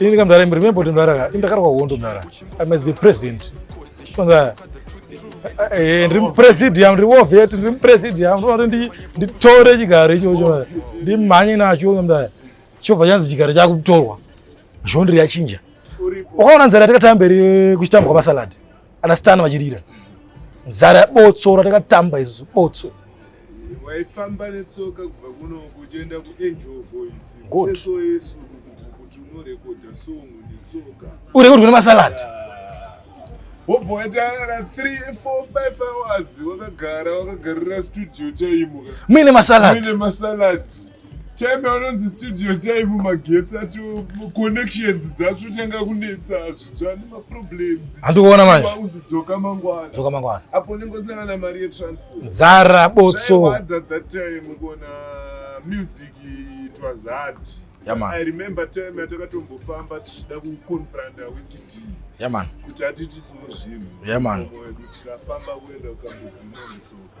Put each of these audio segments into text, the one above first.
Ini kama mdara remember kuti mdara ka indakarwa hondo mdara. I must be president. Mdara eh, ndiri mupresidium ndiri wovet ndiri mupresidium ndinoda kuti nditore chigaro ichocho ndimhanye nacho mdara chobva chanzi chigaro chakutorwa zvondiri yachinja ukaona nzara takatamba mberi kuchitambwa masalad ana stan vachirira nzara yabotsora takatamba isu botso waifamba netsoka kubva kunoku uchienda kuangel voice eso yesu kuti unorekodha song netsoka uri kuri kune masalad wobva waitaara 3 4 5 hours wakagara wakagarira studio chaimuka muine masalad muine masalad Teme anonzi studio chaivo magetsi acho connections dzacho tanga kunetsa zvitsva nemaproblems andikuona manje unzi dzoka mangwana dzoka mangwana apo unenge usina kana mari yetransport nzara botso at that time kuona music it was hard yeah, man. i remember time atakatombofa tichida kuconfronta wikiti yeah, man. kuti atitisewo zvinhu yeah, man. tikafamba kuenda ukambozinonetsoka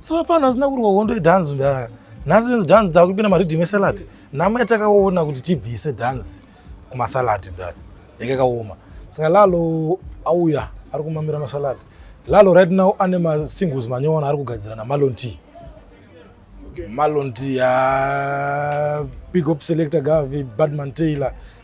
savapfana vasina kurwa hondo yedhanzi mdara nhasi venzi dhanzi dzakupinda maridhim esalad nhamo yatakaona kuti tibvise dhanzi kumasalad mdara yake kaoma saka lalo auya ari kumamira masalad lalo right now ane masingles manyowona ari kugadzira namalon t malon t ya big op selector gavi badman taylor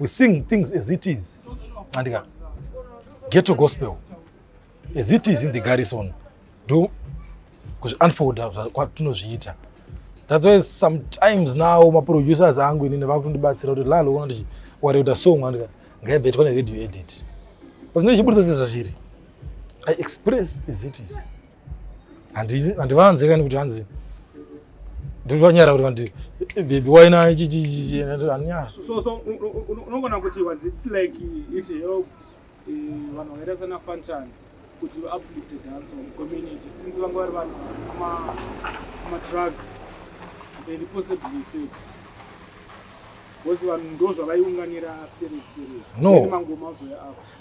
we sing things as it is andika ghetto gospel as it is in the garrison do kuzviunfolda kwatinozviita that's why sometimes now maproducers angu inini vakutondibatsira kuti lalo ona kuti wareuta song andika ngaibva itwa neradio edit pazvino ichiburitsa sezvazviri i express as it is handivanze kani kuti hanzi ndivanyara kuti vandi bebi waina chichichichianonyara unogona kuti was it like it helped eh, vanhu vakaita sana fantan kuti vaaplifte dance on community since vanga vari vanhu amadrugs and possibly sex bcause vanhu ndo zvavaiunganira sterek sterek mangoma azoya after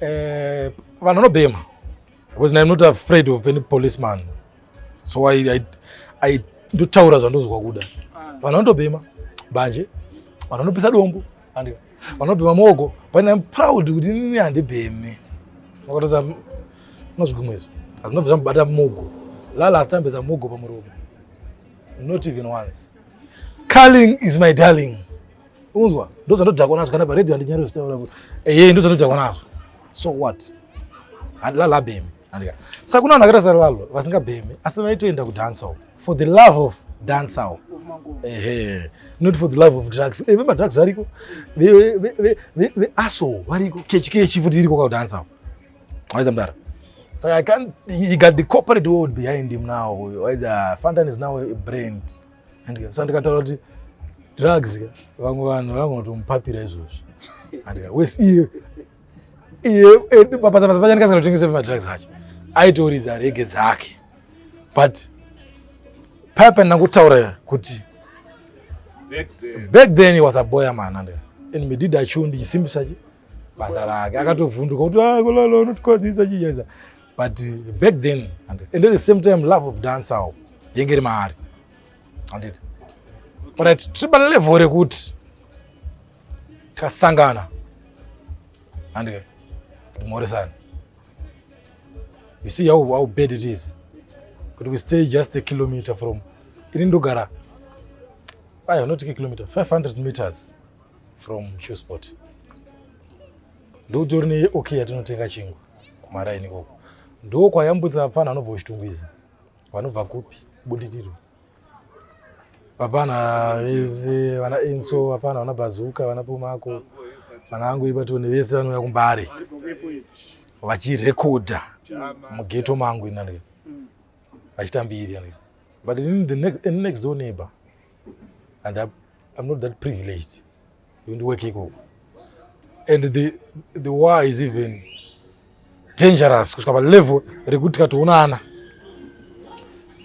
eh, vanhu vanobhema because I'm not afraid of any policeman so I, I, I ndotaura zvandozwa kuda ah. vanhu vanotobhema banje vanhu vanopisa dombo andika vanobhema moko but I'm proud kuti ini handibheme makatoza unozvigumwa izvi hazvinobva zvamubata mugo lala asitambeza mugo pamuromo not even once carling is my darling unzwa ndozandodhakwa nazvo kana paredio andinyari zvitaura kuti eye ndozandodhakwa nazvo so what handilalabhemi andika saka kuna vanhu akaita sarivalo vasingabhemi asi vaitoenda kudancehall for the love of dancehall ehe not for the love of drugs eh, vemadrugs variko veaso variko kechi kechi futi iriko kaudancehall waiza mdara saka i can't he got the corporate world behind him now waiza fantan is now a brand handika sa ndikataura kuti drugs ka vamwe vanhu vangotomupapira izvozvo handika wes iye iye basa basa pacha ndikasingatotengesei madrugs acho aitoridza rege dzake but paya pandina kutaura kuti back then he was a boy amana handika and medida chu ndichisimbisa chi basa rake akatovhunduka kuti ah, kulolo unotikwadzisa chijaisa but back then and at the same time love of dance awo yenge iri maari anditi but tiri palevel rekuti tikasangana andike kuti mhoresani you see how, how bad it is kuti we stay just a kilometer from ini ndogara aya unotike kilometer 500 meters from qsport ndokutori neok yatinotenga chingwa kumaraini ikoko ndo kwayambutsa vapfana vanobva kuchitungwiza vanobva kupi budiriro vapana vese vana enso vapana vana bhazuka vana pumako vana angu ibatone vese vanouya kumbare vachirekodha mugeto mangu inani vachitambiri but in the next, in next door neighbor and I'm, I'm not that privileged yondiweke ikoko and the, the war is even dangerous kusvika palevel rekuti tikatoonana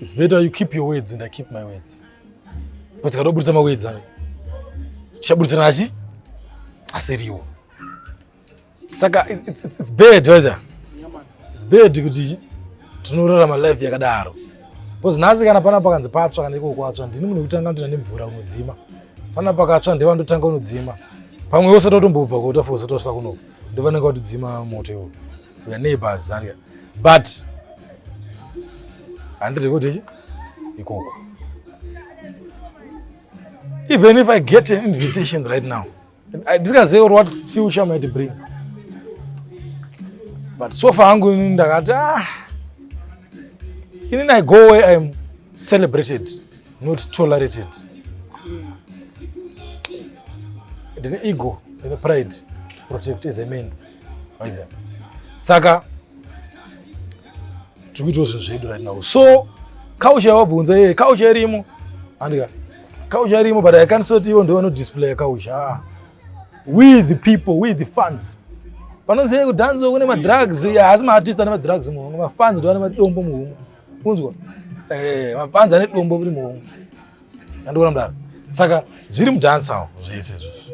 its better you keep your words and i keep my words because tikatoburitsa mawords ayo tichaburitsana achi asiriwo saka it's, it's, it's bad wacha it's bad kuti tinorarama life yakadaro bcause nhasi kana pana pakanzi patsva kana iko kwatsva ndini munhu wekutanga kuti nane mvura unodzima pana pakatsva ndewa ndotanga unodzima pamwe usati watombobva kuota fo usati wasvika kunoku ndovanenge watidzima moto iwo uya neighbors zania but handiri kuti ichi ikoko even if i get an invitation right now Ndisingazive kuti what future might bring. But so far hangu ini ndakati ah ini I go where I am celebrated not tolerated. Ndine ego, ndine pride to protect as a man. Waiza. Saka tikuitawo zvinhu zvedu right now. So kaucha wabvunza yeye kaucha irimo andika Kauzha irimo but I can't sort ivo ndovano display kauzha. Ah. We the people, we the fans. Panonzi yeye kudanzo kune ma drugs, haasi ma artist ane ma drugs muhomwe, ma fans ndo ane madombo muhomwe. Kunzwa? Eh, ma fans ane dombo muri muhomwe. Ndandikuona mdara. Saka zviri mudance awo zvese izvozvo.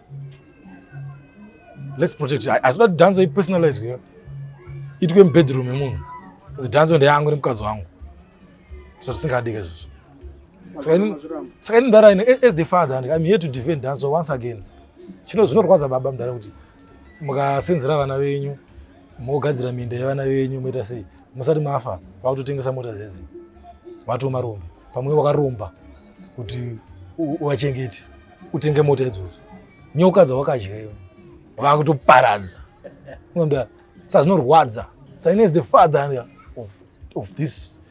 Let's protect. Asi kuti dhanzo ipersonalizwe iyo itwe mubedroom yemunhu kuti dhanzo ndeyangu nemukadzi wangu so tisingadike izvozvo saka ini mdara ine as the father and im here to defend dhanzo once again chino zvinorwadza baba mdara kuti mukasenzera vana venyu mogadzira minda yevana venyu moita sei musati mafa vakutotengesa mota dzedzi vatoma rombe pamwe wakaromba kuti uvachengeti utenge mota idzodzo nyoka dzawakadya iwe vakutoparadza unoda sa zvinorwadza saine is the father of, of this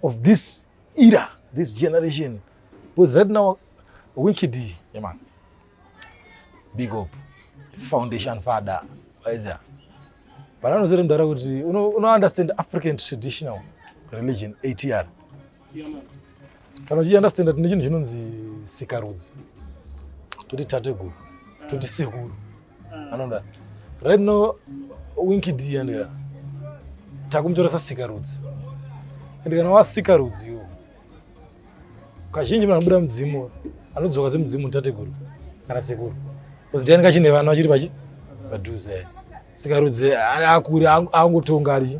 of this era this generation because right now wicked yeah, man big up foundation father waiza pananozere mudhara kuti unounderstand african traditional religion atr kana uchiunderstanda tine chinhu chinonzi sikarudzi toti tateguru toti sekuru anoda right now winkid and takumutoresa sikarudzi and kana wasikarudzi iwo kazhinji munhu anobuda mudzimu anodzoka semudzimu mutateguru kana sekuru bcause ndiani kachine vana vachiri padhuze sikarudzi akuri angotonga ari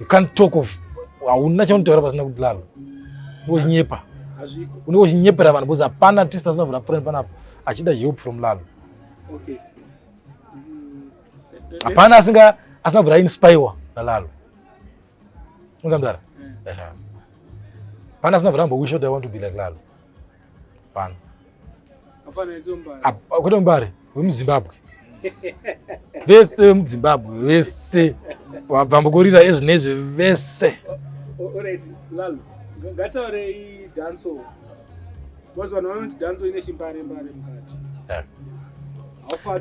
you can't talk of hauna chaunotaura pasina kudlala unonyepa unenge uchinyepera vanhu because hapana tist asina vhura friend panapa achida help from lalo okay hapana asinga asina kubvira inspiwa nalalo unzamdara eh. pana asina kuramba wisho i want to be like lalo pano kwete mbare wemuzimbabwe vese vemuzimbabwe vese vambokorira ezvinezve vese ngataurei danso bcause vanhu vanoti danso ine chimbare mbare mukati eh.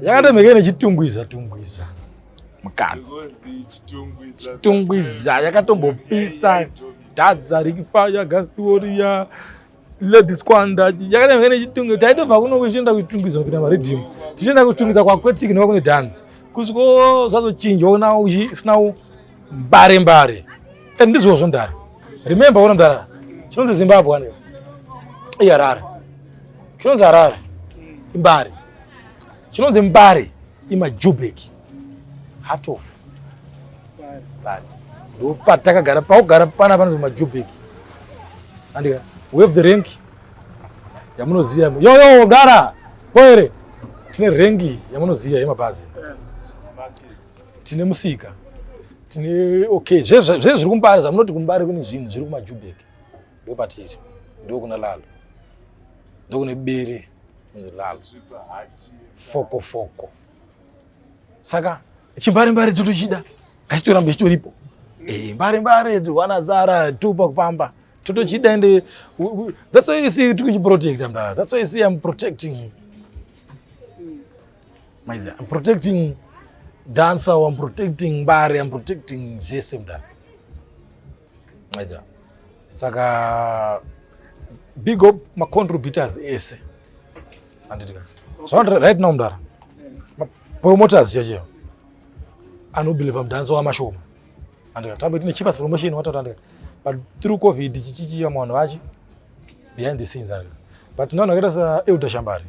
yakatomhekei nechitungwiza tungwiza mukati chitungwiza yakatombopisa dhadza rikifaya gaspioriya Ladies kwanda yakadai kana chitungu taitobva kuno kuchienda kuchitungizwa kuita maridhimu tichienda kuchitungizwa kwakwetiki nekuva kune dhanzi kusviko zvazochinjwa ona uchisina mbare mbare and ndizvo zvondara remember ona ndara chinonzi zimbabwe ane iharare chinonzi harare imbare chinonzi mbare imajubeki Heart of Bari. Ndopatakagara paugara pana panonzi Majubik. Andika wave the rank yamunoziva yo yo gara poere tine rengi yamunoziva yemabhazi tine musika tine okay zvezve zviri kumbari zvamunoti kumbari kune zvinhu zviri kumajubek ndo patiri ndo kuna lalo ndo kune bere lalo foko foko saka chimbare mbare totochida ngachitoramba chitoripo eh, mbare mbare wana zara tupa kupamba totochida ende that's why you see tikuchiprotecta mdara that's why you see i'm protecting maizi i'm protecting dancer i'm protecting mbare i'm protecting zvese mdara Aja. Saka big up ma contributors ese. Andidika. So right now mdara. Ma promoters yaje. Ano believe mdanzo wa mashoma. Andika tabe tine cheapest promotion watoto andika. But through covid chichichi ya mwana wachi behind the scenes andika. But none akaita sa Elder Shambari.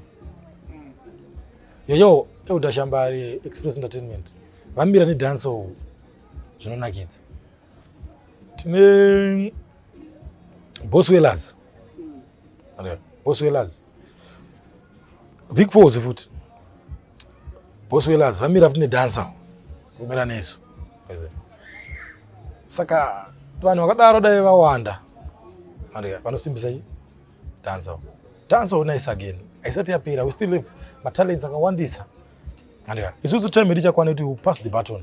Yoyo Elder Shambari Express Entertainment. Vamira ne dance zvinonakidza. tine boswellers boswellers vic fos futi boswellers vamira futi nedansa kumira nesu saka vanhu vakadaro dai vawanda vanosimbisa chi dansa dansa unais again haisati yapera we still have matalents akawandisa isusu time tichakwana kuti pass the button